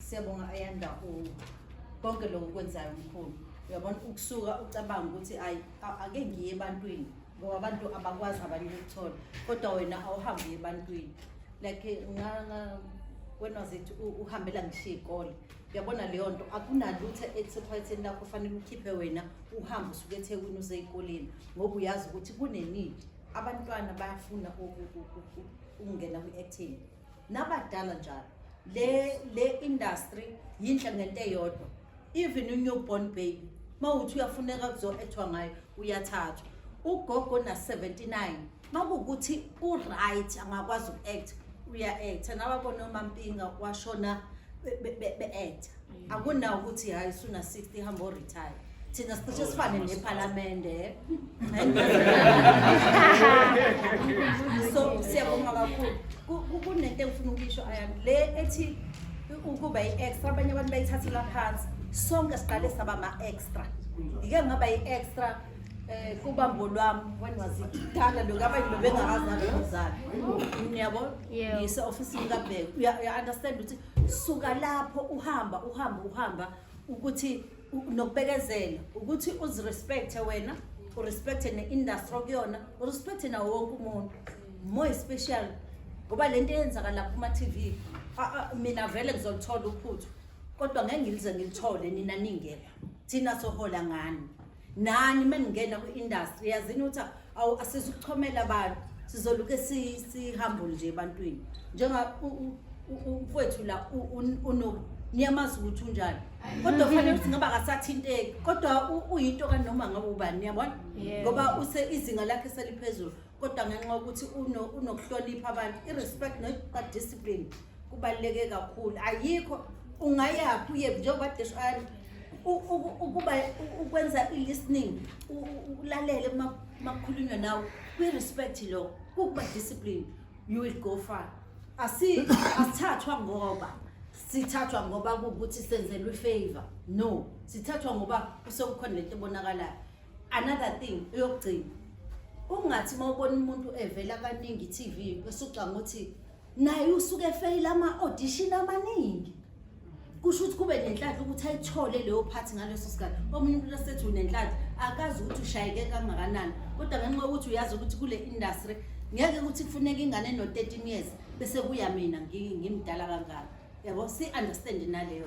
Siyabonga Ayanda u konke lokho kwenzayo mkhulu. Uyabona ukusuka ucabanga ukuthi ayi a- ake ngiye ebantwini ngoba abantu abakwazi abanye ukuthola kodwa wena awuhambi uye ebantwini. Like eh, nga nga when was it u- uhambela ngishiya ikole. Uyabona leyo nto akunalutho elisephatheni lakho fanele ukhiphe wena uhambe usuke eThekwini uze ezikoleni ngoba uyazi ukuthi kunenidi abantwana bayafuna uku- uku- uku- ukungena kwi-acting. nabadala njalo le le industry yinhle ngento eyodwa even unewborn baby mawuthi uyafuneka kuzoethwa ngayo uyathathwa ugogo na 79 makuwukuthi uright angakwazi uku-act uya-acta nababona umampinga washona be-acta akunawo ukuthi hayi usuna 60 ihamba oretire thina sicishe sifane nephalamende so siyabonga kakhulu Ku- ku- kunento engifuna ukuyisho ayami le ethi ukuba i-extra abanye abantu bayithathela phansi sonke siqale saba ma-extra ngike ngaba yi-extra um kubambo lwami when was it kudala lokhu abanye bebengakazali nozali niyabo Yebo. ngise-ofisini kabheka uya-understand ukuthi suka lapho uhamba uhamba uhamba ukuthi u- nokubekezela ukuthi uzirespecte wena urespecte ne-industry okuyona urespecte nawo wonke umuntu more special ngoba le nto eyenzakala kuma-tv a- a- mina vele ngizolithola uphuthu kodwa ngeke ngilize ngilithole nina ningekho thina sohola ngani nani uma ningena kwi-industry yazini ukuthi awu asizukuchomela abantu sizoluke sihambo nje ebantwini njenga umfowethu la unoku niyamazi ukuthi unjani kodwa kufanele ukuthi ngaba akasathinteki kodwa uyinto kanoma ngabe ubani niyabona ngoba use izinga lakhe seliphezulu kodwa ngenxa yokuthi unokuhlonipha abantu i-respect nodiscipline kubaluleke kakhulu ayikho ungayaphi uye njengoba desho ani ukuba ukwenza i-listening ulalele makukhulunywa nawe kwi-respect lo kukuba discipline you will go far asithathwa ngoba sithathwa ngoba kuwukuthi senzelwe ifavor no sithathwa ngoba usekukhona lento ebonakalayo another thing eyokugcina ungathi uma ubona umuntu evela kaningi i-tv esucanga ukuthi naye usuke efeyile ama-audition amaningi kusho ukuthi kube nenhlanhla ukuthi ayithole leyo phathi ngaleso sikhathi omunye umuntu asethi unenhlanhla akazi ukuthi ushayeke kangakanani kodwa ngenxa yokuthi uyazi ukuthi kule industry ngeke ukuthi kufuneka ingane eno-13 years bese kuya mina ngimdala kangaka yabo si-understand naleyo